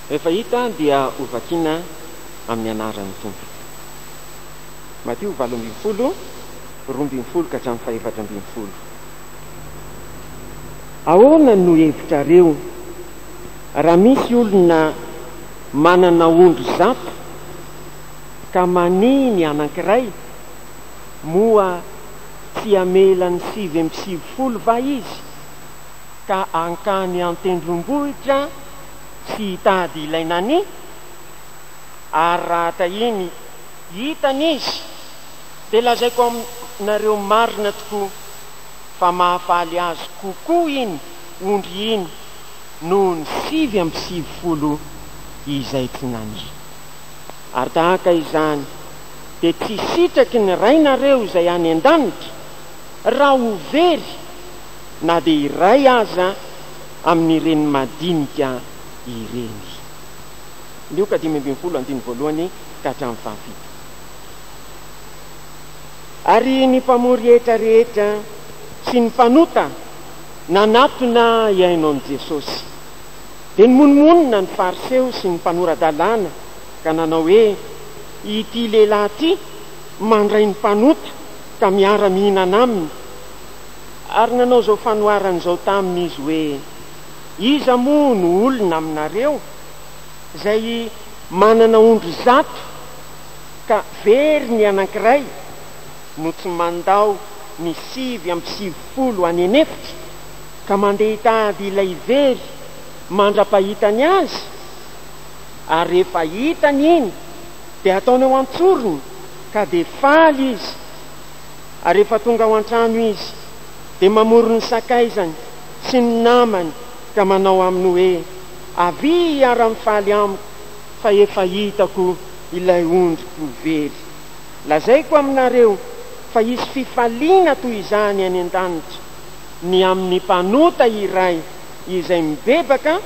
Rehefa hita dia ho vakiana amin'ny anaran'ny Tompo. Matio valo ambin'ny folo, roa ambin'ny folo ka hatramin'ny fahefatra ambin'ny folo. Ahoana no hevitrareo raha misy olona manana ondry zato ka manihy ny anankiray, moa tsy hamela ny sivy amby sivifolo va izy? ka hankany an-tendrombohitra tsy hitady ilay Nani? Ary raha tahiny hitany izy, dia lazaiko aminareo marina tokoa fa mahafaly azy kokoa iny ondry iny noho ny sivy amby sivifolo izay tsy Nani. Ary tahaka izany dia tsy sitraky ny Rainareo izay any an-danitra raha ho very na dia iray aza amin'ireny madinika ireny. Lioka dimy ambin'ny folo, andininy voalohany ka hatramin'ny fahafito. Ary ny mpamory hetra rehetra sy ny mpanota nanatona hihaino an'i Jesosy. Dia nimonomonona ny Fariseo sy ny mpanora-dalàna ka nanao hoe, Ity lehilahy ity mandray ny mpanota ka miara-mihinana aminy. Ary nanao izao fanoharana izao taminy izy hoe, Iza moa no olona aminareo izay manana ondry zato ka very ny anankiray no tsy mandao ny sivy amby sivifolo any an'efitra ka mandeha hitady ilay very mandra-pahitany azy? Ary rehefa hitany iny dia ataony ao an-tsorony ka dia faly izy. ary rehefa tonga ao an-trano izy dia mamory ny sakaizany sy ny namany ka manao aminy hoe, Avia hiara-mifaly amiko fa efa hitako ilay ondriko very. Lazaiko aminareo fa hisy fifaliana toy izany any an-danitra ny amin'ny mpanota iray izay mibebaka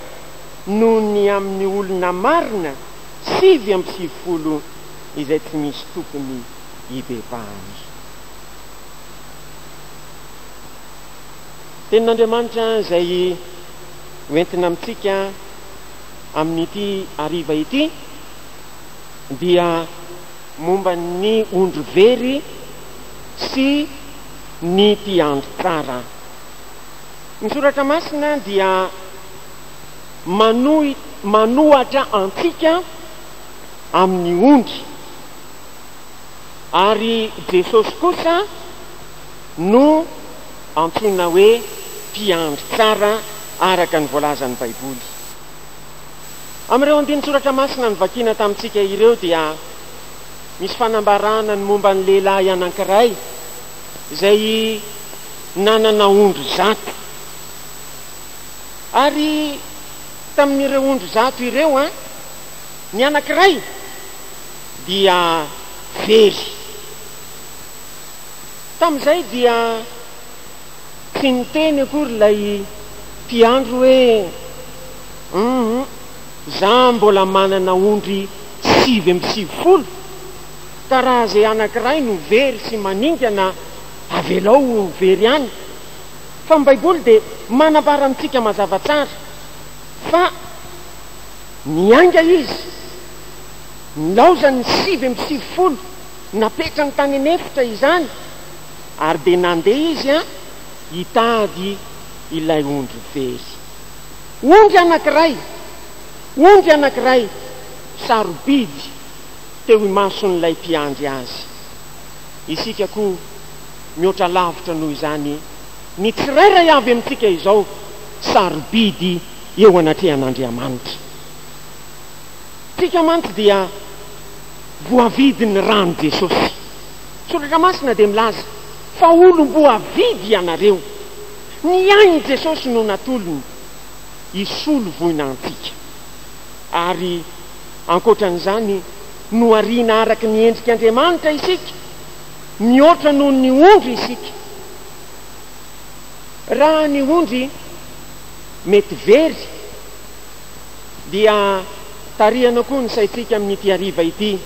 noho ny amin'ny olona marina sivy amby sivifolo izay tsy misy tompony. hibebahany. Tenin'Andriamanitra izay hoentina amintsika amin'ity hariva ity dia momba ny ondry very sy ny mpiandry tsara. Ny Soratra Masina dia manohitra antsika amin'ny ondry. Ary Jesosy kosa no antsoina hoe Mpiandry tsara araka ny voalazan'ny Baiboly. Amin'ireo andinin-tsoratra masina novakiana tamintsika ireo dia misy fanambarana ny momba ny lehilahy anankiray izay nanana ondry zato. Ary tamin'ireo ondry zato ireo, ny anankiray, dia very. Tamin'izay dia tsy niteny akory ilay mpiandry hoe, Humm, za mbola manana ondry sivy amby sivifolo ka raha izay anankiray no very sy maningana, avelao ho very ihany. Fa ny Baiboly dia manambara amintsika mazava tsara fa niainga izy. Nilaozany ny sivy amby sivifolo napetrany tany an'efitra izany ary dia nandeha izy an hitady ilay ondry very. Ondry anankiray! Ondry anankiray sarobidy teo imason'ilay mpiandry azy. Isika koa mihoatra lavitra noho izany ny tsirairay avy amintsika izao sarobidy eo anatrehan'Andriamanitra. Tsika mantsy dia voavidin'ny ran'i Jesosy. Soratra masina dia milaza fa olom-boavidy ianareo. Ny ain'i Jesosy no natolony hisolo voina antsika. Ary ankoatran'izany, nohariana araka ny endrik'Andriamanitra isika, mihoatra noho ny ondry isika. Raha ny ondry mety very. dia tarihana koa ny saintsika amin'ity hariva ity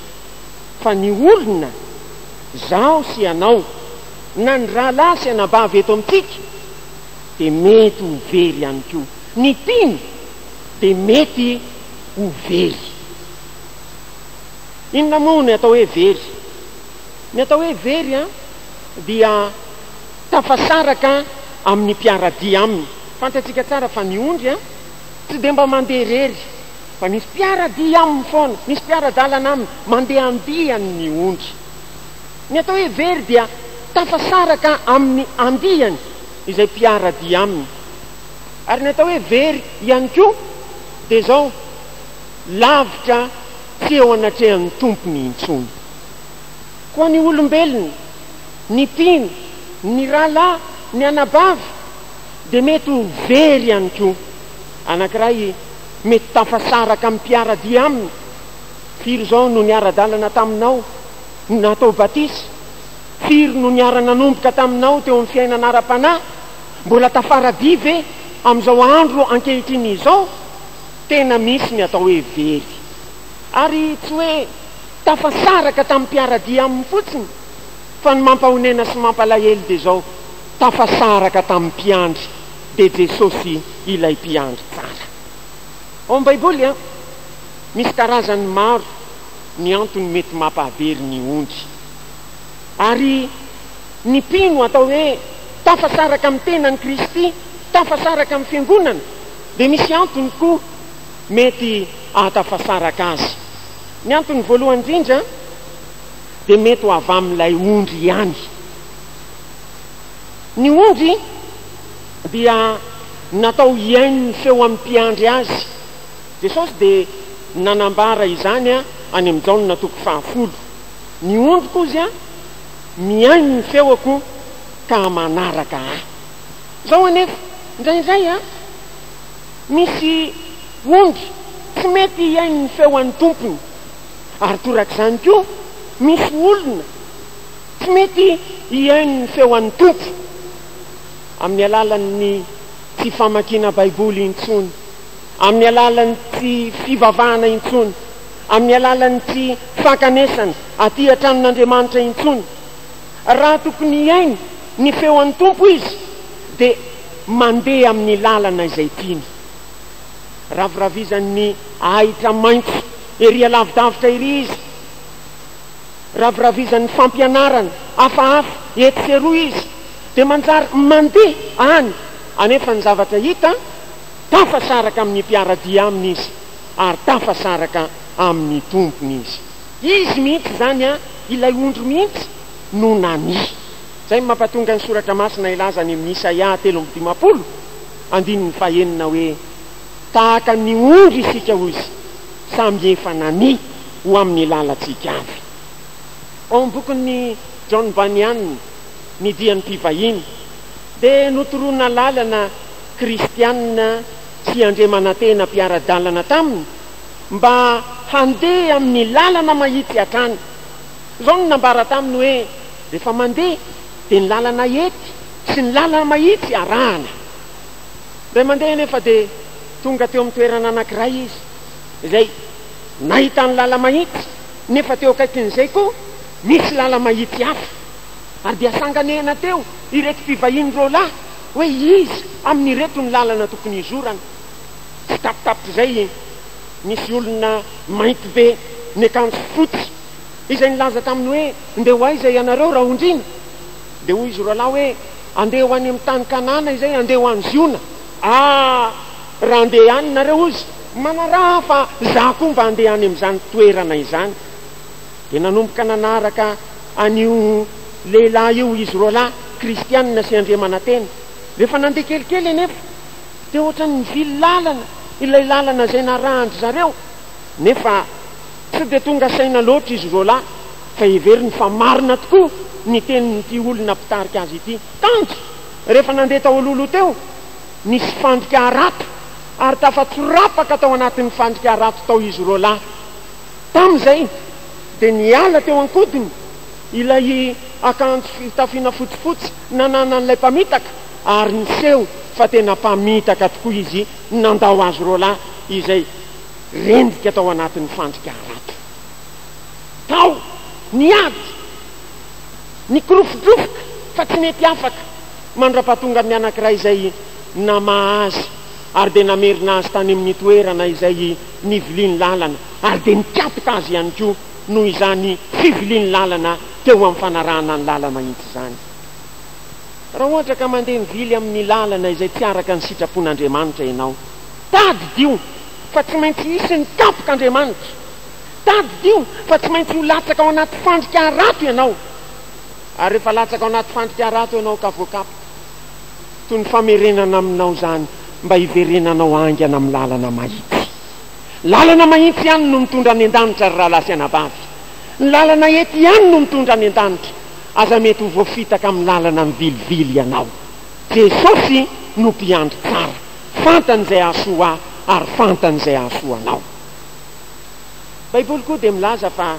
fa ny olona, izaho sy ianao, na ny rahalahy sy anabavy eto amintsika dia mety ho very ihany koa. Ny mpino dia mety ho very. Inona moa ny atao hoe very? Ny atao hoe very dia tafasaraka amin'ny mpiara-dia aminy. Fantatsika tsara fa ny ondry, Tsy dia mba mandeha irery fa misy mpiara-dia aminy foana, misy mpiara-dalana aminy, mandeha andiany ny ondry. Ny atao hoe very dia tafasaraka amin'ny andiany izay mpiara-dia aminy. Ary ny atao hoe very ihany koa dia izao, lavitra tsy eo anatrehan'ny tompony intsony. Koa ny olombelona, ny mpino, ny rahalahy, ny anabavy, Dia mety ho very ihany koa. Anankiray mety tafasaraka amin'ny mpiara-dia aminy, Firy izao no niara-dalana taminao no natao batisa? Firy no niara-nanomboka taminao teo amin'ny fiainana ara-panahy? Mbola tafara-dia ve amin'izao andro ankehitriny izao? Tena misy ny atao hoe very. Ary tsy hoe tafasaraka tamin'ny mpiara-dia aminy fotsiny, fa ny mampahonena sy mampalahelo dia izao, Tafasaraka tamin'ny mpiandry dia Jesosy ilay mpiandry tsara. Ao amin'ny Baiboly, misy karazany maro ny antony mety mampahavery ny ondry. Ary ny mpino atao hoe tafasaraka amin'ny tenan'i Kristy, tafasaraka amin'ny fiangonana, dia misy antony koa mety ahatafasaraka azy. Ny antony voalohany indrindra dia mety ho avy amin'ilay ondry ihany. Ny ondry dia natao hihaino ny feo amin'ny mpiandry azy. Jesosy dia nanambara izany any amin'ny Jaona toko fahafolo, Ny ondriko hozy mihaino ny feoko ka manaraka Ahy. Izao anefa, indraindray misy ondry tsy mety hihaino ny feo an'ny tompony, ary torak'izany koa misy olona, Tsy mety hihaino ny feo an'ny Tompo amin'ny alalan'ny tsy famakiana Baiboly intsony, amin'ny alalan'ny tsy fivavahana intsony, amin'ny alalan'ny tsy fankanesana aty an-tranon'Andriamanitra intsony. Raha tokony hihaino ny feo an'ny Tompo izy, dia mandeha amin'ny lalana izay tiany. Raviravizan'ny ahitra maitso ery alavidavitra ery izy. raviravizan'ny fampianarana hafahafa etsy sy eroa izy dia manjary mandeha any anefa ny zavatra hita, tafasaraka amin'ny mpiara-dia aminy izy ary tafasaraka amin'ny tompony izy. Izy mihitsy izany an, ilay ondry mihitsy no nania. Izay no mampatonga ny soratra masina hilaza any amin'ny Isaia telo amby dimampolo andininy fahenina hoe, Tahaka ny ondry isika, hoy izy, Samy efa nania ho amin'ny lalantsika avy. Ao amin'ny bokin'i John Bunyan, Ny dian'ny mpivahiny, dia notorona lalana kristiana sy andriamanantena mpiara-dalana taminy mba handeha amin'ny lalana mahitsy hatrany. Izao no nambara taminy hoe, Rehefa mandeha, dia ny lalana hety sy ny lalana mahitsy arahana. Indray mandeha anefa dia. Tonga teo amin'ny toerana anankiray izy, izay nahitany lala-mahitsy, nefa teo akaikin'izay koa nisy lala-mahitsy hafa. Ary dia sanganehana teo ireto mpivahiny roalahy hoe iza amin'ireto ny lalana tokony hizorana. Tsitapitapitr'izay, nisy olona mainty be niakanjo fotsy, izay nilaza taminy hoe, Ndeha ho aiza ianareo, Raondriana? Dia hoy izy roalahy hoe, Andeha ho any amin'ny tany Kanana izay, andeha ho any Ziona. Ah! Raha handeha any nareo hozy, manaraha fa za koa mba handeha any amin'izany toerana izany. Dia nanomboka nanaraka an'io lehilahy io izy roa lahy, Kristiana sy Andriamanantena. Rehefa nandeha kelikely anefa, dia ohatran'ny nivily lalana ilay lalana izay narahan-dry zareo. Nefa tsy dia tonga saina loatra izy roa lahy, fa heveriny fa marina tokoa ny tenin'ity olona mpitarika azy ity. Tanjy! Rehefa nandeha tao Ololo teo, nisy fandrika harato ary tafatsorapaka tao anatin'ny fandrika harato tao izy roa lahy. Tamin'izay dia niala teo an-kodiny ilay akanjo fitafiana fotsifotsy nananan'ilay mpamitaka ary niseho fa tena mpamitaka tokoa izy nandao azy roa lahy izay rendrika tao anatin'ny fandrika harato tao. Niady. Nikorofodrofoka fa tsy nety afaka mandrapatonga ny anankiray izay namaha azy ary dia namerina azy tany amin'ny toerana izay niviliany lalana ary dia nikapoka azy ihany koa noho izany fiviliany lalana teo amin'ny fanarahana ny lalana itsy izany. Raha ohatra ka mandeha mivily amin'ny lalana izay tsy araka ny sitrapon'Andriamanitra ianao, tadidio fa tsy maintsy hisy ny kapok'Andriamanitra. Tadidio fa tsy maintsy ho latsaka ao anaty fandrika harato ianao. Ary rehefa latsaka ao anaty fandrika harato ianao ka voakapoka, toy ny famerenana aminao izany mba hiverenanao haingana amin'ny lalana mahitsy. Lalana mahitsy ihany no mitondra any an-danitra, ry rahalahy sy anabavy. Ny lalana eto ihany no mitondra any an-danitra. Aza mety ho voafitaka amin'ny lalana mivilivily ianao. Jesosy no Mpiandry tsara. Fantany izay hahasoa ahy ary fantany izay hahasoa anao. Baiboly koa dia milaza fa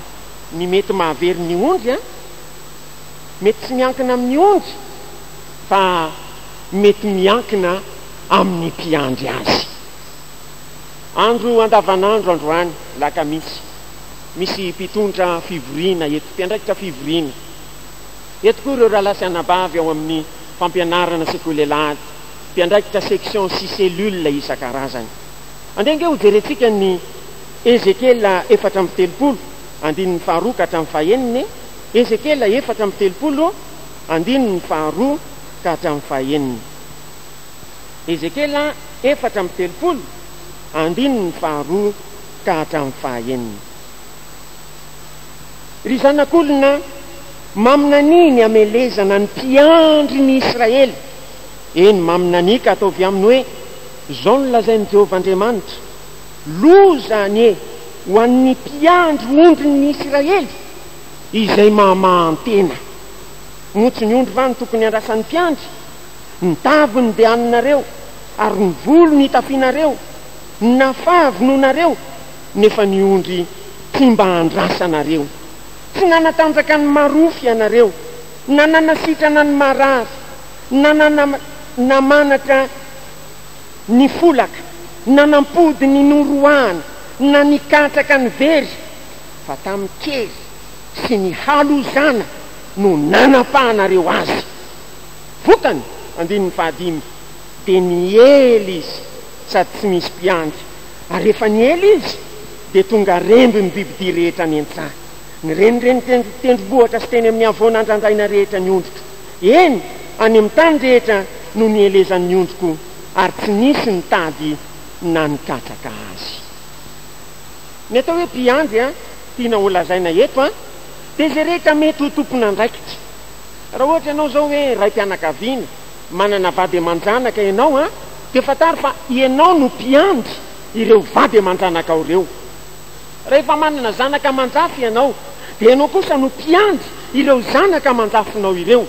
ny mety mahavery ny ondry an, mety tsy miankina amin'ny ondry fa mety miankina amin'ny mpiandry azy. Andro andavanandro androany lakamisy, misy mpitondra fivoriana eto, mpiandraikitra fivoriana eto koa ireo rahalahy sy anabavy ao amin'ny fampianarana sekoly alahady, mpiandraikitra section sy cellule isan-karazany. Andeha ange hojerentsika ny Ezekiela efatra amby telopolo, andininy faharoa ka hatramin'ny fahenina e! Ezekiela efatra amby telopolo, andininy faharoa ka hatramin'ny fahenina. Ezekiela efatra amby telopolo, andininy faharoa ka hatramin'ny fahaenina. Ry zanak'olona, maminanihy ny hamelezana ny mpiandry ny Israely, eny, maminanihy ka ataovy aminy hoe, Izao no lazain'i Jehovah Andriamanitra, Loza anie ho an'ny mpiandry ondrin'ny Isiraely, izay mamahan-tena! Moa tsy ny ondry va no tokony handrasan'ny mpiandry? Ny taviny dia haninareo, ary ny volo ny itafianareo. Nafà vonoinareo, nefa ny ondry tsy mba andrasanareo. Tsy nanatanjaka ny marofo ianareo, na nanasitrana ny marary, na nanamanatra ny folaka, nanampody ny noroahana, na nikatraka ny very, fa tamin'ny kery sy ny halozana no nanapahanareo azy. Vokany, andininy fahadimy, dia niely izy sady tsy misy mpiandry, ary rehefa niely izy, dia tonga remby ny bibidia rehetra nientsaha, ny renireny tendrombohitra sy teny amin'ny havoana andrandraina rehetra ny ondriko. Eny, any amin'ny tany rehetra no nielezan'ny ondriko, ary tsy nisy nitady na nikatsaka azy. Ny atao hoe mpiandry tiana holazaina eto dia izay rehetra mety ho tompon'andraikitra. Raha ohatra ianao izao hoe raim-pianakaviana, manana vady aman-janaka ianao, dia fantaro fa ianao no mpiandry ireo vady aman-janakao ireo. Rehefa manana zanaka aman-jafy ianao, dia ianao kosa no mpiandry ireo zanaka aman-jafinao ireo.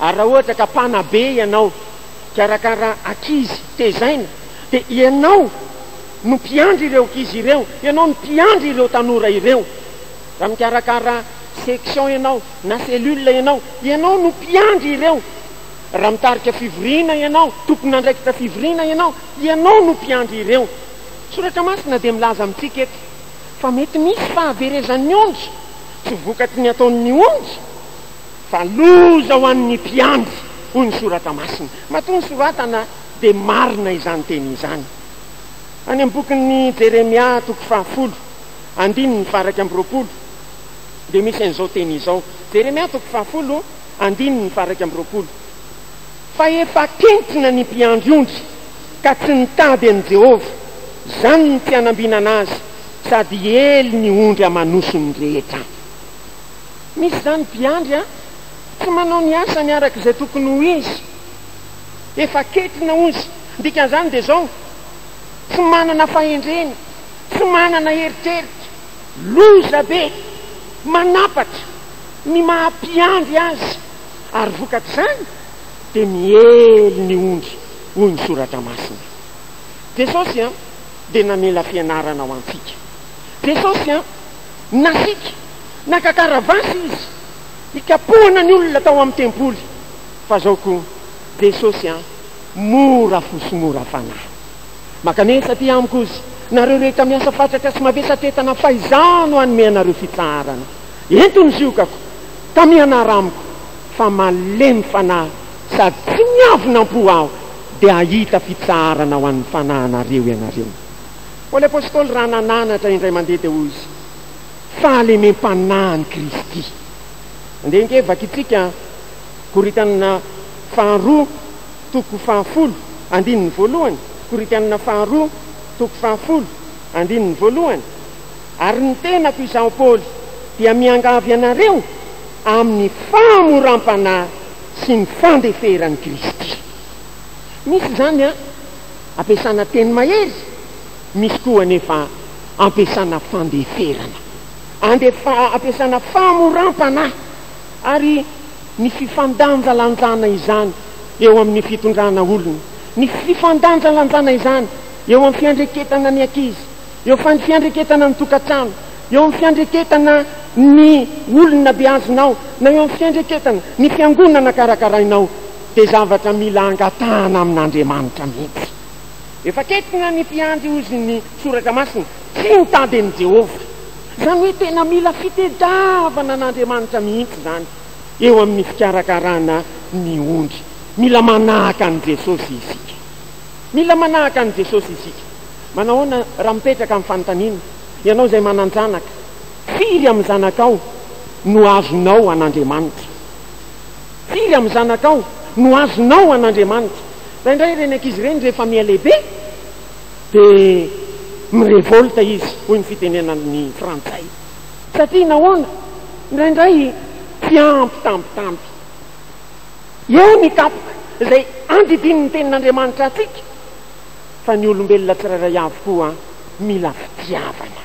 Ary raha ohatra ka mpanabe ianao, mpikarakara ankizy, tezaina, dia ianao no mpiandry ireo ankizy ireo, ianao no mpiandry ireo tanora ireo. Raha mikarakara section ianao na cellule ianao, ianao no mpiandry ireo. Raha mitarika fivoriana ianao, tompon'andraikitra fivoriana ianao, ianao no mpiandry ireo. Ny Soratra Masina dia milaza amintsika eto fa mety misy fahaverezan'ny ondry tsy vokatry ny ataon'ny ondry, fa loza ho an'ny mpiandry, hoy ny Soratra Masina. Matoa nosoratana dia marina izany teny izany. Any amin'ny bokin'i Jeremia toko fahafolo, andininy faha-iraika amby roapolo, dia misy an'izao teny izao, Jeremia toko fahafolo, andininy faha-iraika amby roapolo. Fa efa kentrina ny mpiandry ondry ka tsy nitady an'i Jehovah, izany no tsy hanambinana azy, sady hiely ny ondry aman'osony rehetra. Misy izany mpiandry an, tsy manao ny asany araka izay tokony ho izy. Efa kentrina ozy. Ny dikan'izany dia izao, tsy manana fahendrena, tsy manana eritreritra, loza be, manapatra ny maha mpiandry azy. ary vokatr'izany dia miely ny ondry hoy ny soratra masina. Jesosy an dia namela fianarana ho antsika. Jesosy an, nasiaka, naka karavasy izy hikapohana ny olona tao amin'ny tempoly, fa zao koa Jesosy an, mora fo sy mora fanahy. Makanesa aty amiko ozy nareo rehetra miasa fatratra sy mavesatretana fa izaho no hanome anareo fitsaharana. Ento ny ziokako. Tamihanahy amiko fa malemy fanahy sady tsy miavona am-po aho dia hahita fitsaharana ho an'ny fanahinareo ianareo. Paoly Apostoly raha nananatra indray mandeha dia hoy izy, Fahalemem-panahin'i Kristy. Andeha ange vakitsika Korintiana faharoa toko fahafolo andininy voalohany, Korintiana faharoa toko fahafolo andininy voalohany. Ary ny tenako izaho Paoly dia miangavy anareo amin'ny famoram-panahy sy ny fandeferan'i Kristy. Misy izany an, ampiasana teny mahery, misy koa anefa ampiasana fandeferana, andefa, ampiasana famoram-panahy, ary ny fifandanjalanjana izany eo amin'ny fitondrana olona, ny fifandanjalanjana izany eo amin'ny fiandreketana ny ankizy, Eo amin'ny fiandreketana amin'ny tokantrano, eo amin'ny fiandreketana ny olona beazonao, na eo amin'ny fiandreketana ny fiangonana karakarainao, dia zavatra mila angatahana amin'Andriamanitra mihitsy. Efa kentrina ny mpiandry hozy ny Soratra Masina, tsy ny tadin'i Jehovah. Izany hoe tena mila fitedravana an'Andriamanitra mihitsy izany eo amin'ny fikarakarana ny ondry. Mila manahaka an'i Jesosy isika. Mila manahaka an'i Jesosy isika. Manahoana raha mipetraka amin'ny fanontaniana, Ianao izay manan-janaka, firy amin'ny zanakao no azonao an'Andriamanitra? Firy amin'ny zanakao no azonao an'Andriamanitra? Indraindray ireny ankizy ireny rehefa miha lehibe dia mi-revolte izy, hoy ny fitenenan'ny frantsay. Satria nahoana? Indraindray tsy ampy tambitamby. Eo ny tapoka izay andidian'ny Tenin'Andriamanitra antsika fa ny olombelona tsirairay avy koa mila fitiavana.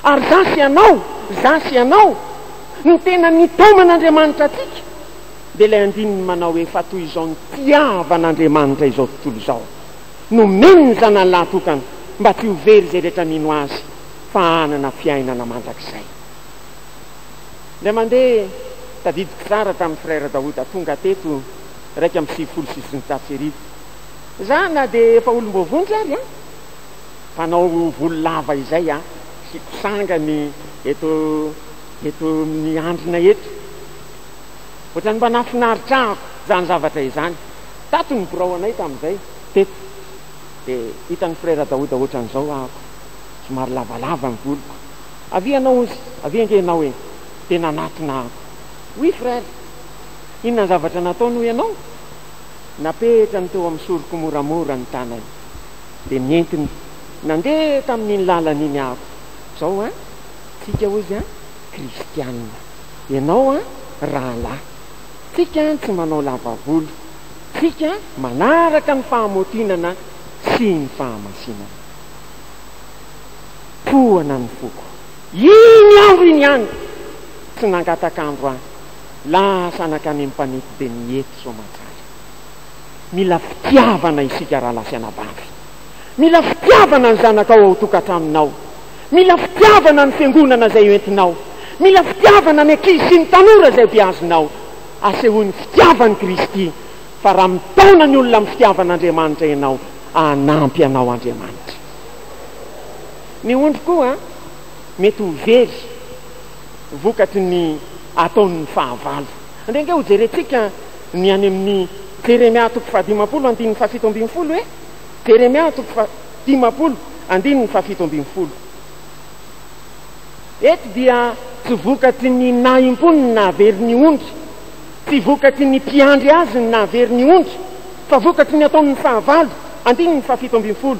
Ary za sy ianao, za sy ianao, ny tena nitaoman'Andriamanitra antsika dia ilay andininy manao hoe, Fa toy izao nitiavan'Andriamanitra izao tontolo izao, nomeny ny Zanany lahatokana mba tsy ho very izay rehetra mino Azy fa hanana fiainana mandrakizay. Indray mandeha, tadidiko tsara tamin'i Frère Daouda tonga teto iraika amby sivifolo sy sivinjato sy arivo. Za na dia efa olom-boavonjy ary an! Mpanao volo lava izay aho, asiako sangany eto eto amin'ny andrina eto. Ohatran'ny mba nahafinaritravako izany zavatra izany. Tato ny birao anay tamin'izay, teto. Dia hitan'i Frère Daouda ohatran'izao ahako, somary lavalava ny voloko. Avy ianao ozy, avy enga ianao e! Dia nanatona ahy. Oui frère! Inona ny zavatra nataony hoy ianao? Napetrany teo amin'ny soroko moramora ny tanany. Dia nentiny nandeha tamin'iny lalana iny aho. Izao an! Tsika hozy an! Kristianina. Ianao an! Rahalahy. Tsika an! Tsy manao lava volo. Tsika an! Manaraka ny fahamaotinana sy ny fahamasinana. Tohana ny foko. Iny andro iny ihany, tsy nangataka andro ahy, lasa nankany amin'ny mpanety be ny hety soamantsara. Mila fitiavana isika rahalahy sy anabavy. Mila fitiavana ny zanakao ao tokantranonao. Mila fitiavana ny fiangonana izay hoentinao. Mila fitiavana ny ankizy sy ny tanora izay beazinao. Asehoy ny fitiavan'i Kristy, fa raha mitaona ny olona amin'ny fitiavan'Andriamanitra ianao, hanampy anao Andriamanitra. Ny ondry koa mety ho very vokatry ny ataon'ny fahavalo. Andeha ange hojerentsika ny any amin'ny Jeremia toko fahadimampolo andininy fahafito ambin'ny folo e! Jeremia toko fahadimampolo andininy fahafito ambin'ny folo. Eto dia tsy vokatry ny nahim-pony ny nahavery ny ondry, tsy vokatry ny mpiandry azy ny nahavery ny ondry, fa vokatry ny ataon'ny fahavalo, andininy fahafito ambin'ny folo.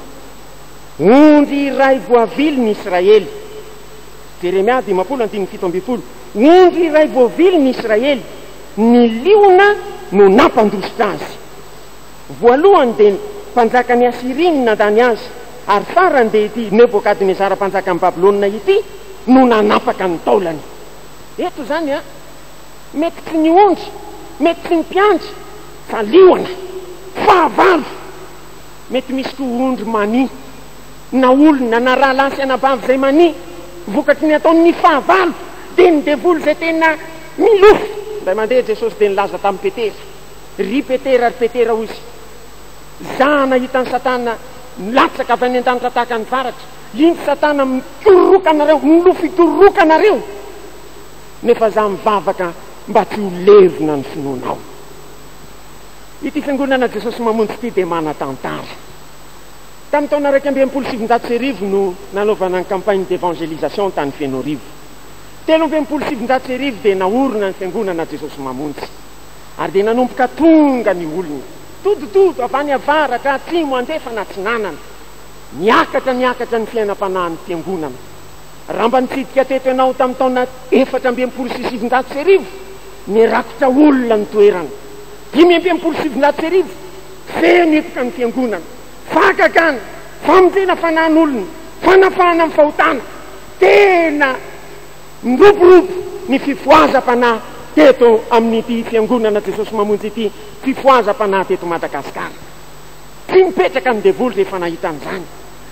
Ondry iray voavily ny Israely. Jeremia dimampolo andininy fito ambin'ny folo. Ondry iray voavily ny Israely, ny liona no nampandositra azy. Voalohany dia ny mpanjakan'i Asyria no nandany azy, ary farany dia ity Nebokadnezara mpanjakan'i Babylona ity no nanapaka ny taolany. Eto izany an, mety tsy ny ondry, mety tsy ny mpiandry, fa liona. Fahavalo. Mety misy koa ondry mania, na olona, na rahalahy sy anabavy izay mania vokatry ny ataon'ny fahavalo. Dia ny devoly izay tena milofo. Indray mandeha Jesosy dia nilaza tamin'i Petera, Ry Petera, ry Petera, hoy Izy, Zah nahita an'i Satana milatsaka avy any an-danitra tahaka ny varatra. Indro Satana mitororoka anareo, milofo hitororoka anareo, nefa Zah mivavaka mba tsy ho levona ny finoanao. Ity Fiangonana Jesosy Mamonjy ity dia manan-tantara. Tamin'ny taona iraika amby enimpolo sy sivinjato sy arivo no nanaovana ny campagne d'evangelisation tany Fenoarivo. Telo amby enimpolo sy sivinjato sy arivo dia naorina ny Fiangonana Jesosy Mamonjy. Ary dia nanomboka tonga ny olona. Todotodo, avy any avaratra, atsimo, andrefana, atsinanana. Niakatra niakatra ny fiainam-panahin'ny Fiangonana. Raha mba nitsidika teto ianao tamin'ny taona efatra amby enimpolo sy sivinjato sy arivo, nirakotra olona ny toerana. Dimy amby enimpolo sy sivinjato sy arivo, feno hipoka ny fiangonana. Fahagagana, famonjena fanahin'olona, fanafahana ny fahotana. Tena niroborobo ny fifohazam-panahy teto amin'ity Fiangonana Jesosy Mamonjy ity, fifohazam-panahy teto Madagasikara. Tsy nipetraka ny devoly rehefa nahita an'izany.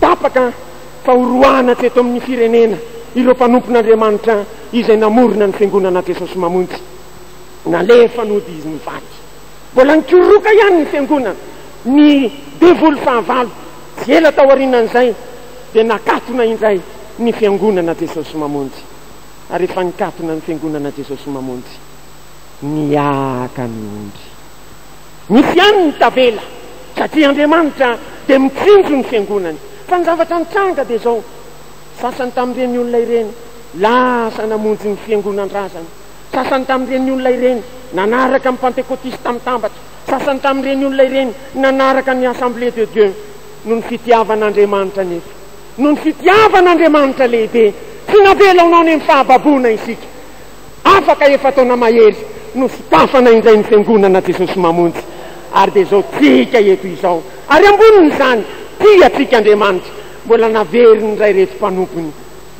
Tapaka fahorohana tsy eto amin'ny firenena ireo mpanompon'Andriamanitra izay namorona ny Fiangonana Jesosy Mamonjy. Nalefa nody izy nivady. Mbola nikoroka ihany ny Fiangonana. Ny devoly fahavalo, tsy ela taorianan'izay, dia nakatona indray ny Fiangonana Jesosy Mamonjy. Ary efa nikatona ny Fiangonana Jesosy Mamonjy, nihiaka ny ondry. Misy ihany ny tavela satria Andriamanitra dia mitsinjo ny fiangonany. Fa ny zavatra nitranga dia izao, sasany tamin'ireny olona ireny lasa namonjy ny fiangonan-drazana, sasany tamin'ireny olona ireny nanaraka ny pantekotista mitambatra, sasany tamin'ireny olona ireny nanaraka ny Assemblée de Dieu. Noho ny fitiavan'Andriamanitra anefa, noho ny fitiavan'Andriamanitra lehibe, tsy navela ho nao ny amin'ny fahababoana isika. Afaka efa-taona mahery no sokafana indray ny Fiangonana Jesosy Mamonjy, ary dia izao tsika eto izao. Ary ambonin'izany, tia antsika Andriamanitra, mbola naveriny indray ireto mpanompony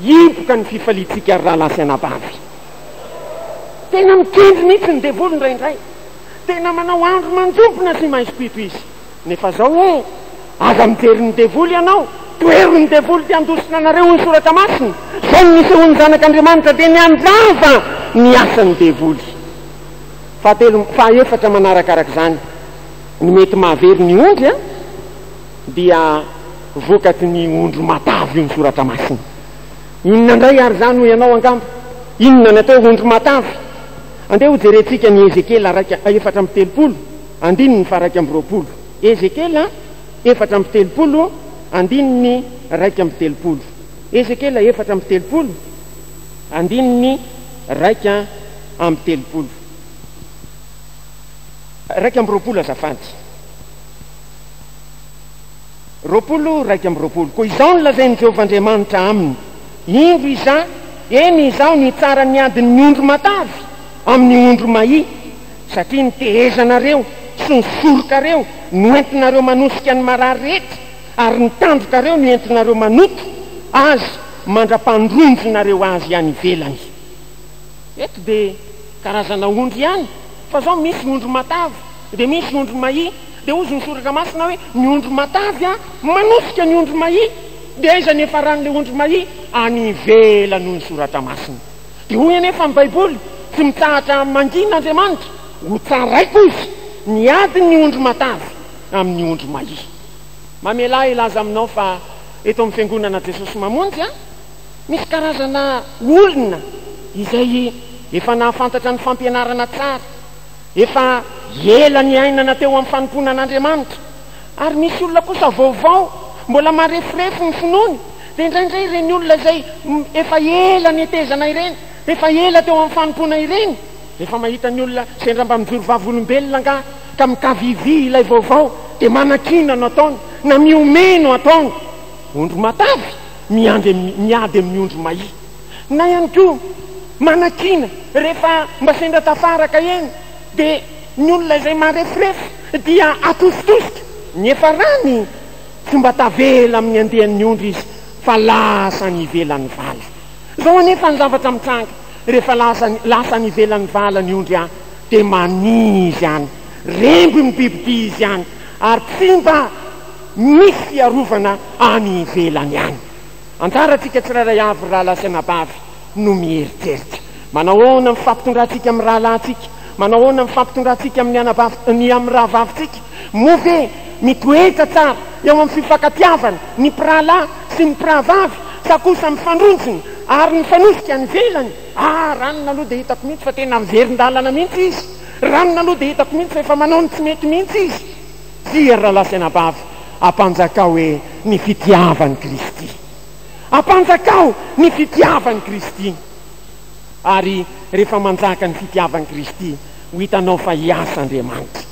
hipoka ny fifaliantsika ry rahalahy sy anabavy. Tena mikendry mihitsy ny devoly indraindray. Tena manao andro manjompona sy maisopito izy. Nefa zao hoe aza mijery ny devoly ianao, tohero ny devoly te handositra anareo hoy ny soratra masina. Zao no nisehoan'ny zanak' Andriamanitra dia niandrava ny asan'ny devoly. Fahatelo, fahaefatra manarakarak'izany, ny mety mahavery ny ondry an, dia vokaty ny ondry matavy hoy ny soratra masina. Inona indray ary zany hoy ianao angamba, inona ny atao hoe ondry matavy? Andeha hojerentsika ny Ezekiela raika, efatra amby telopolo, Andininy faha-iraika amby roapolo. Ezekiela efatra amby telopolo, andininy iraika amby telopolo. Ezekiela efatra amby telopolo, andininy iraika amby telopolo. Iraika amby roapolo azafady. Roapolo, iraika amby roapolo. Koa izao no lazain'i Jehovah Andriamanitra aminy, Indro Izaho, eny, Izaho, nitsara ny adin'ny ondry matavy amin'ny ondry mahia. Satria ny tehezanareo sy ny sorokareo no entinareo manosika ny marary rehetra, ary ny tandrokareo no entinareo manoto Azy mandra-pandronjonareo Azy any ivelany. Eto dia karazana ondry ihany, fa izao misy ondry matavy, dia misy ondry mahia. Dia hozy ny Soratra Masina hoe, Ny ondry matavy manosika ny ondry mahia. Dia aiza ny hiafaran'ilay ondry mahia? Any ivelany, hoy ny Soratra Masina. Dia hoy anefa ny Baiboly, Tsy mitsahatra mangina Andriamanitra, ho tsaraiko Izy, ny adin'ny ondry matavy amin'ny ondry mahia. Mamelà hilaza aminao fa eto amin'ny Fiangonana Jesosy Mamonjy, misy karazana olona izay efa nahafantatra ny fampianarana tsara, efa ela niainana teo amin'ny fanompoana an'Andriamanitra, Ary misy olona kosa vaovao, mbola mareforefo ny finoany, dia indraindray ireny olona izay efa ela netezana ireny, efa ela teo amin'ny fanompoana ireny, rehefa mahita ny olona sendra mba mijoro vavolombelona angaha ka mikavivy ilay vaovao, dia manakiana no ataony, na mihomehy no ataony. Ondry matavy miandry, miady amin'ny ondry mahia. Na ihany koa manakiana rehefa mba sendra tafaraka eny. Dia ny olona izay mareforefo dia atositosika, nefa raha ny tsy mba tavela amin'ny andian'ny ondry izy fa lasa any ivelan'ny vala. Izao anefa ny zavatra mitranga, rehefa lasa any ivelan'ny vala ny ondry an, dia mania izy any, remby ny bibidia izy any, ary tsy mba misy fiarovana any ivelany any. Anjaratsika tsirairay avy, rahalahy sy anabavy, no mieritreritra. Manahoana ny fampitondrantsika amin'ny rahalahintsika? Manahoana ny fampitondrantsika amin'ny anabavin-, ny amin'ny rahavavintsika? Moa ve mitoetra tsara eo amin'ny fifankatiavana ny mpirahalahy sy ny mpirahavavy sa kosa mifandronjona ary mifanosika any ivelany? Ah, ranona aloha dia hitako mihitsy fa tena miverin-dalana mihitsy izy! Ranona aloha dia hitako mihitsy fa efa manao ny tsy mety mihitsy izy! Tia ry rahalahy sy anabavy, ampanjakao hoe ny fitiavan'i Kristy. Ampanjakao ny fitiavan'i Kristy. Ary rehefa manjaka ny fitiavan'i Kristy, ho hitanao fa hiasa Andriamanitra.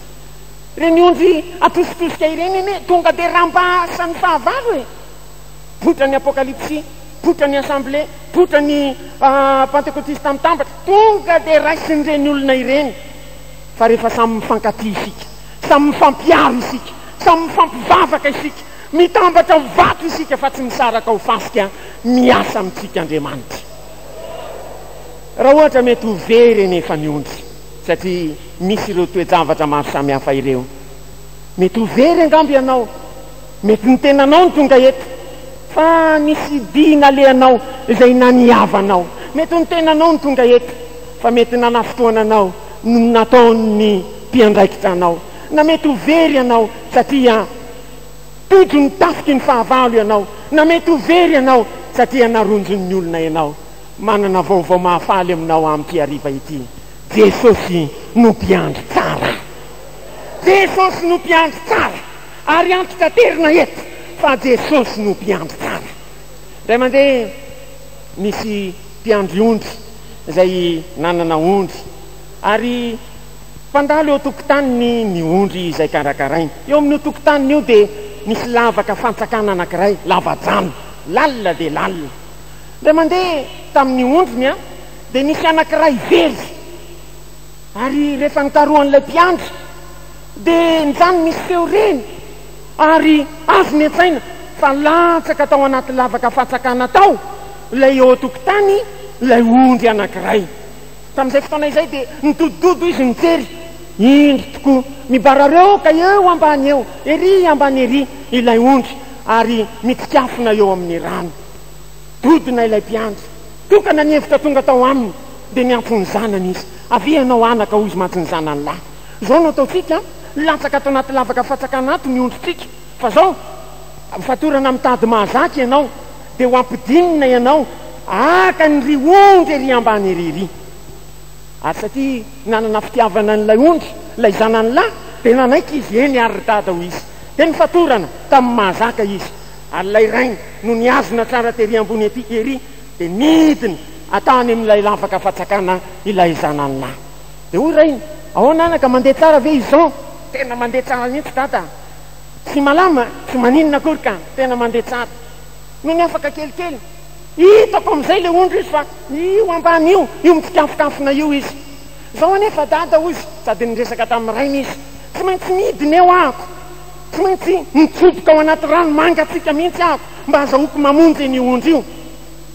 Ireny ondry atositosika ireny anie tonga dia rambasan'ny fahavalo e! Poitra ny Apokalypsy, poitra ny Assemblé, poitra ny Pantekotista mitambatra, tonga dia raisin'ireny olona ireny. Fa rehefa samy mifankatia isika, samy mifampiaro isika, samy mifampivavaka isika, Mitambatra ho vato isika fa tsy misaraka ho fasika miasa amintsika Andriamanitra. Raha ohatra mety ho very anefa ny ondry satria misy ireo toe-javatra maro samihafa ireo. Mety ho very angamba ianao, mety ny tenanao no tonga eto fa nisy dihy nalehanao izay naniava anao, mety ho ny tenanao no tonga eto fa mety nanafotoana anao no nataon'ny mpiandraikitra anao, na mety ho very ianao satria Tojo ny tafiky ny fahavalo ianao na mety ho very ianao satria naronjon'ny olona ianao. Manana vaovao mahafaly aminao amin'ity hariva ity. Jesosy no mpiandry tsara. Jesosy no mpiandry tsara. Ary antitaterina eto fa Jesosy no mpiandry tsara. Indray mandeha nisy mpiandry ondry izay nanana ondry ary. Mpandalo eo an-tokotaniny ny ondry izay karakarainy. Eo amin'io tokotaniny io dia misy lavaka fantsakana anankiray, lava-drano, lalina dia lalina. Indray mandeha tamin'ny ondriny dia nisy anankiray very, ary rehefa nikarohan'ilay mpiandry dia nijanona izy teo reny ary azo niantsaina fa latsaka tao anaty lavaka fantsakana tao ilay eo an-tokotany ilay ondry anankiray. Tamin'izay fotoana izay dia nidodododo izy nijery. Indro tokoa, mibarareoka eo ambany eo, ery ambany ery, ilay ondry ary mitsikafona eo amin'ny rano. Dodona ilay mpiandry. Tokana ny hevitra tonga tao aminy, dia niantso ny zanany izy. Avia ianao anaka, hoy izy mantsy ny zanany lahy. Izao no ataontsika an! Latsaka ato anaty lavaka fatsakana ato ny ondritsika. Fa zao, amin'ny fatorana mitady mahazaka ianao, dia ho ampidinina ianao haka an'iry ondry ery ambany ery iry. Ary satria nanana fitiavana an'ilay ondry ilay zanany lahy, dia nanaiky izy, Eny àry ry dada, hoy izy. Dia nifatorana tamin'ny mahazaka izy. Ary ilay rainy no nihazona tsara tery ambony ety ery, dia nidina tany amin'ilay lavaka fatsakana ilay zanany lahy. Dia hoy rainy, Ahoana anaka, mandeha tsara ve izao? Tena mandeha tsara mihitsy dada. Tsy malama, tsy maninona akory ka, tena mandeha tsara. Nony afaka kelikely, hitako amin'izay ilay ondry izy fa io ambany io, io mitsikafonkafona io izy. Izao anefa Dada, hoy izy, sady niresaka tamin'ny rainy izy, tsy maintsy midina eo ahako. Tsy maintsy mitsoboka ao anaty rano mangatsiaka mihitsy ahako mba hazahoako mamonjy an'io ondry io.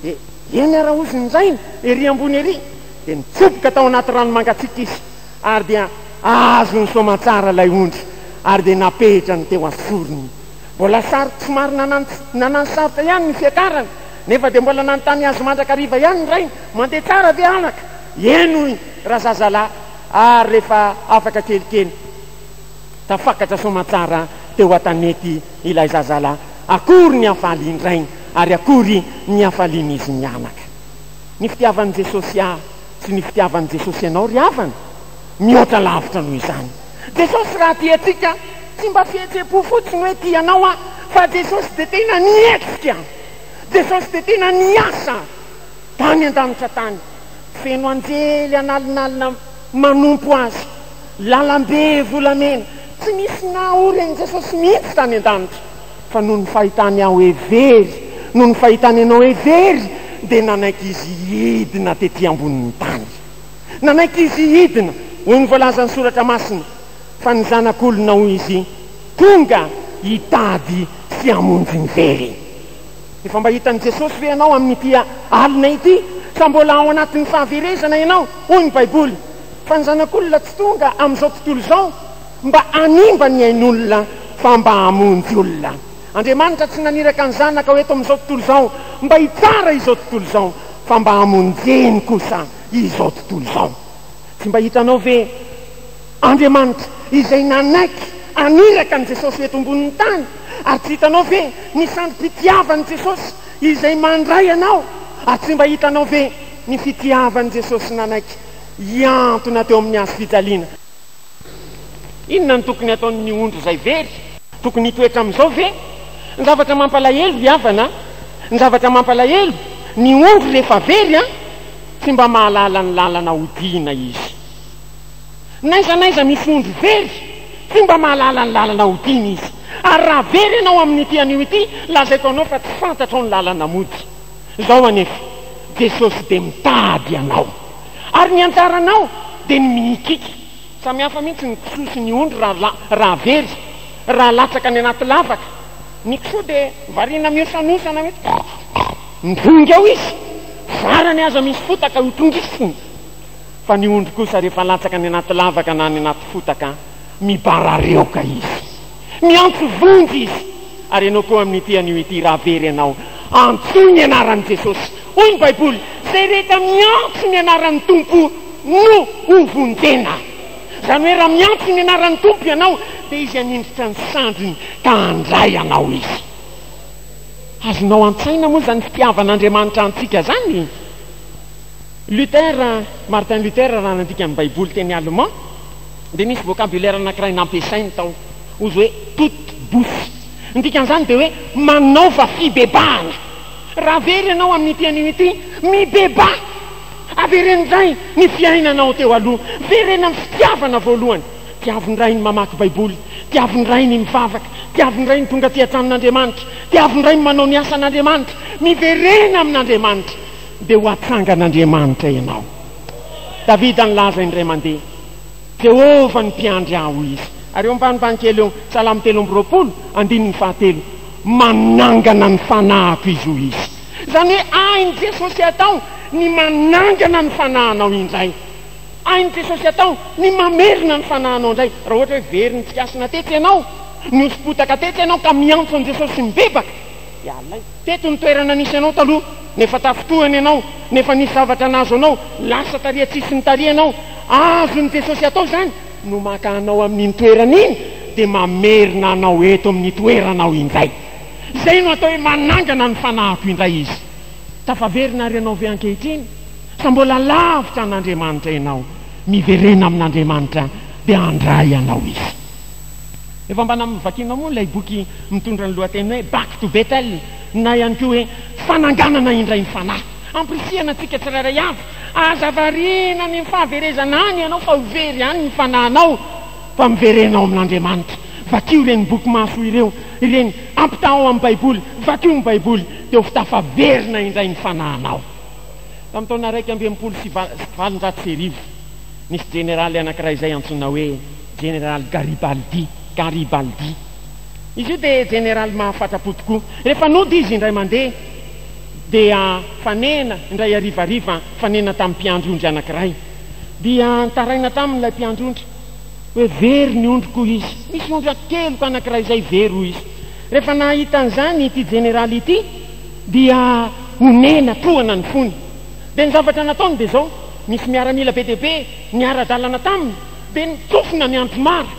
Dia eny ara, hozy ny rainy, ery ambony ery. Dia nitsoboka tao anaty rano mangatsiaka izy. Ary dia azony soamantsara ilay ondry ary dia napetrany teo an-tsorony. Mbola sarotra, somary nanano sarotra ihany ny fiakarany, nefa dia mbola nanontany azy mandrakariva ihany ny rainy, Mandeha tsara ve anaka? Eny hoy razazalahy ary rehefa afaka kelikely. Tafakatra soamantsara teo an-tanety ilay zazalahy. Akory ny hafalian-drainy ary akory ny hafalian'izy mianaka. Ny fitiavan'i Jesosy ahy Tsy ny fitiavan'i Jesosy anao ry havana, mihoatra lavitra noho izany. Jesosy raha tia antsika, tsy mba fihetsem-po fotsiny hoe tia anao aho, fa Jesosy dia tena nihetsika. Jesosy dia tena niasa tany an-danitra tany, feno anjely an'alinalina manompo Azy, lalam-be volamena. Tsy nisy nahory an'i Jesosy mihitsy tany an-danitra. Fa noho ny fahitany aho hoe very, noho ny fahitany anao hoe very, dia nanaiky izy hidina tetỳ ambonin'ny tany. Nanaiky izy hidina, hoy ny voalazan'ny Soratra Masina, fa ny Zanak'olona, hoy izy, tonga hitady sy hamonjy ny very. Efa mba hitan'i Jesosy ve ianao amin'ity alina ity, sa mbola ao anatin'ny fahaverezana ianao? Hoy ny Baiboly, fa ny Zanak'olona tsy tonga amin'izao tontolo izao. Mba hanimba ny ain'olona fa mba hamonjy olona. Andriamanitra tsy naniraka ny Zanaka ho eto amin'izao tontolo izao mba hitsara izao tontolo izao fa mba hamonjeny kosa izao tontolo izao. Tsy mba hitanao ve Andriamanitra izay nanaiky haniraka an'i Jesosy ho eto ambonin'ny tany? Ary tsy hitanao ve ny sandrim-pitiavan'i Jesosy izay mandray anao? Ary tsy mba hitanao ve ny fitiavan'i Jesosy nanaiky hiantona teo amin'ny hazofijaliana? Inona no tokony hataon'ny ondry izay very? Tokony hitoetra amin'izao ve? Ny zavatra mampalahelo, ry havana a! Ny zavatra mampalahelo, ny ondry rehefa very an! tsy mba mahalala ny lalana hodihina izy. N'aiza n'aiza misy ondry very, tsy mba mahalala ny lalana hodihina izy. Ary raha very ianao amin'ity anio ity, lazaiko anao fa tsy fantatrao ny lalana mody. Izao anefa, Jesosy dia mitady anao. Ary ny anjaranao dia ny mihikiky. Samy hafa mihitsy ny kisoa sy ny ondry raha raha very, raha latsaka any anaty lavaka. Ny kisoa dia variana mihosanosana hoe pff. Midrongy ao izy, varany aza misy fotaka ho tongisiny. Fa ny ondry kosa rehefa latsaka any anaty lavaka na any anaty fotaka, mibarareoka izy. Miantso vonjy izy, ary ianao koa amin'ity anio ity, raha very ianao, antsoy ny anaran'i Jesosy. Hoy ny Baiboly, Izay rehetra miantso ny anaran'ny Tompo no hovonjena. Izany hoe raha miantso ny anaran'ny Tompo ianao, dia Izy hanindritra ny sandriny ka handray anao Izy. Azonao an-tsaina moa izany fitiavan'Andriamanitra antsika izany? Luther, Martin Luther raha nandika ny Baiboly teny Allemand, dia nisy vocabulaire anankiray nampiasainy tao, ozy hoe toute bouche. Ny dikan'izany dia hoe manaova fibebahana. Raha very ianao amin'ity anio ity, mibebaha! Avereno indray ny fiainanao teo aloha. Vereno amin'ny fitiavana voalohany. Tiavo indray ny mamaky Baiboly. Tiavo indray ny mivavaka. Tiavo indray ny tonga aty an-tranon'Andriamanitra. Tiavo indray ny manao ny asan'Andriamanitra. Miverena amin'Andriamanitra, dia ho atsangan'Andriamanitra ianao. Davida nilaza indray mandeha. Jehovah ny mpiandry ahy, hoy izy. Ary eo ambanimbany kely eo, Salamo telo amby roapolo, andininy fahatelo, Manangana ny fanahiko izy, hoy izy. Izany hoe hain'i Jesosy atao ny manangana ny fanahinao indray. Hain'i Jesosy atao ny mamerina ny fanahinao indray. Raha ohatra hoe very nitsikasina tetsy ianao, nihosom-potaka tetsy ianao ka miantso an'i Jesosy mibebaka, dia alaivo. Teto ny toerana nisy anao taloha, nefa tafintohina ianao, nefa nisy zavatra nahazo anao, lasa tariha tsy hisy nitariha anao. Azon'i Jesosy atao izany no maka anao amin'iny toerana iny dia mamerina anao eto amin'ny toeranao indray. Izay no atao hoe manangana ny fanahiko indray Izy. Tafaverina àry ianao ve ankehitriny? Sa mbola lavitra an'Andriamanitra ianao? Miverena amin'Andriamanitra dia handray anao Izy. Efa mba namakianao moa ilay boky mitondra ny lohateny hoe Back to Bethel na ihany koa hoe Fananganana indray ny Fanahy? Ampirisihana antsika tsirairay avy, aza variana ny fahaverezana any ianao fa ho very any ny fanahinao fa miverena ao amin'Andriamanitra. Vakio ireny boky mahasoa ireo ireny, ampitahao amin'ny Baiboly, vakio ny Baiboly dia ho fitafaverina indray ny fanahinao. Tamin'ny taona iraika amby enimpolo sy valonjato sy arivo, nisy jeneraly anankiray izay antsoina hoe. Jeneraly Garibaldi, Garibaldi. Izy io dia jeneraly mahafatra-po tokoa. Rehefa nody izy indray mandeha, dia fanena, indray harivariva, fanena tamin'ny mpiandry ondry anankiray. Dia nitaraina taminy ilay mpiandry ondry hoe, Very ny ondriko, hoy izy. Misy ondry an-keloka anankiray izay very, hoy izy. Rehefa nahita an'izany ity jeneraly ity, dia onena, trohana ny fony. Dia ny zavatra nataony dia izao, Nisy miaramila be dia be niara-dalana taminy. Dia nitsofina ny andro maro,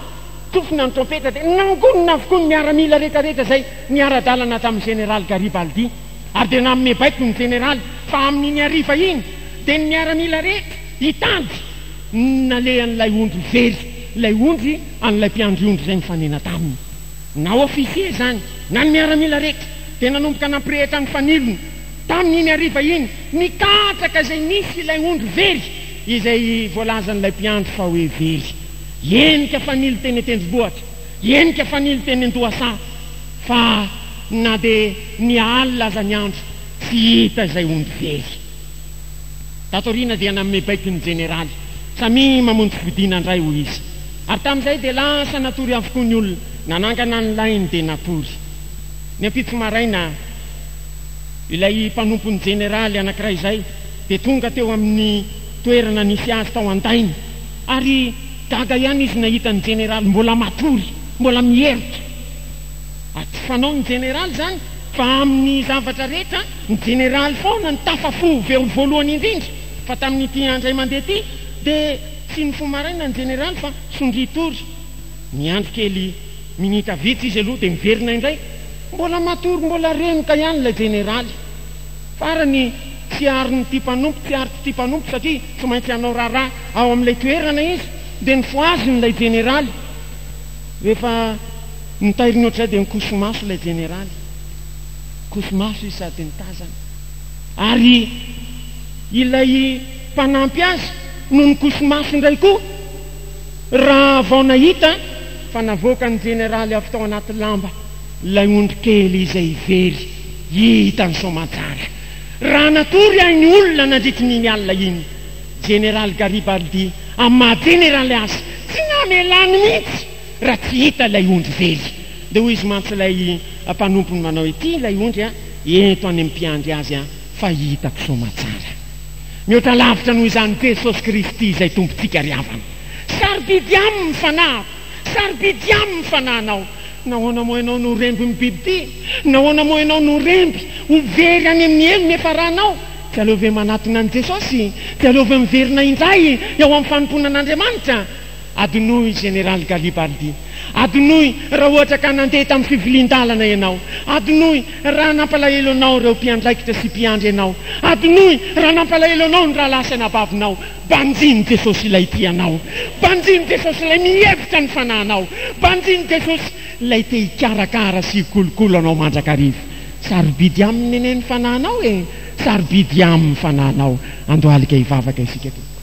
tsofina ny trompetra dia nangonina avokoa ny miaramila rehetrarehetra izay niara-dalana tamin'ny Jeneraly Garibaldi. Ary dia nanome baiko ny Jeneraly fa amin'iny hariva iny dia ny miaramila rehetra hitady ny nalehan'ilay ondry very, ilay ondry an'ilay mpiandry ondry izay nifanena taminy. Na ofisier izany na ny miaramila rehetra dia nanomboka nampirehitra ny fanilony. Tamin'iny hariva iny, nikatraka izay nisy ilay ondry very. izay voalazan'ilay mpiandry fa hoe very, henika fanilo teny an-tendrombohitra, henika fanilo teny an-dohasaha, fa na dia niha alina aza ny andro, tsy hita izay ondry very. Tato aoriana dia nanome baiko ny jeneraly, Samia mamonjy fodiana indray, hoy izy. Ary tamin'izay dia lasa natory avokoa ny olona, nanangana ny lainy dia natory. Ny ampitso maraina, ilay mpanompon'ny jeneraly anankiray izay, dia tonga teo amin'ny toerana nisy azy tao an-dainy ary gaga ihany izy nahita ny jeneraly mbola matory, mbola miherotra. Atsy fanao ny jeneraly izany fa amin'ny zavatra rehetra ny jeneraly foana no tafafo veo voalohany indrindra fa tamin'ity andray mandeha ity dia tsy nifo maraina ny jeneraly fa sondria tory. Niandry kely minitra vitsy izy aloha dia miverina indray, mbola matory mbola renoka ihany ilay jeneraly. Farany, tsy arin'ity mpanompo tsy ary ity mpanompo satria tsy maintsy hanao raharaha ao amin'ilay toerana izy, dia nifohaziny ilay jeneraly. Rehefa notairiny ohatr'izay dia nikoso-maso ilay jeneraly. Nikoso-maso izy sady nitazana. Ary ilay mpanampy azy no nikoso-maso indray koa raha vao nahita fa navoakan'ny jeneraly avy tao anaty lamba. Ilay ondry kely izay very hita ny soamantsara, raha natory ahy ny olona nandritry ny iny alina iny. Jeneraly Garibaldi amin'ny maha jeneraly azy, tsy namelany mihitsy raha tsy hita ilay ondry very. Dia hoy izy mantsy ilay mpanompony manao, Ity ilay ondry an, ento any amin'ny mpiandry azy an, fa hitako soamantsara. Mihoatra lavitra noho izany Jesosy Kristy izay Tompontsika ry havana. Sarobidy Aminy ny fanahiko. Sarobidy aminy ny fanahinao. Nahoana moa ianao no remby ny bibidia? Nahoana moa ianao no remby ho very any amin'ny helo ny efa ranao? Dia aleo ve manatona an'i Jesosy? Dia aleo ve miverina indray eo amin'ny fanompoana an'Andriamanitra? Adinoy Général Galibaldi. Adinoy raha ohatra ka nandeha tamin'ny fivilian-dalana ianao. Adinoy raha nampalahelo anao ireo mpiandraikitra sy mpiandry anao. Adinoy raha nampalahelo anao ny rahalahy sy anabavinao. Banjino Jesosy ilay tia anao Banjino Jesosy ilay mihevitra ny fanahinao Banjino Jesosy ilay te hikarakara sy hikolokolo anao mandrakariva Sarobidy aminy anie ny fanahinao e Sarobidy aminy fanahinao Andohalika hivavaka isika tompoko.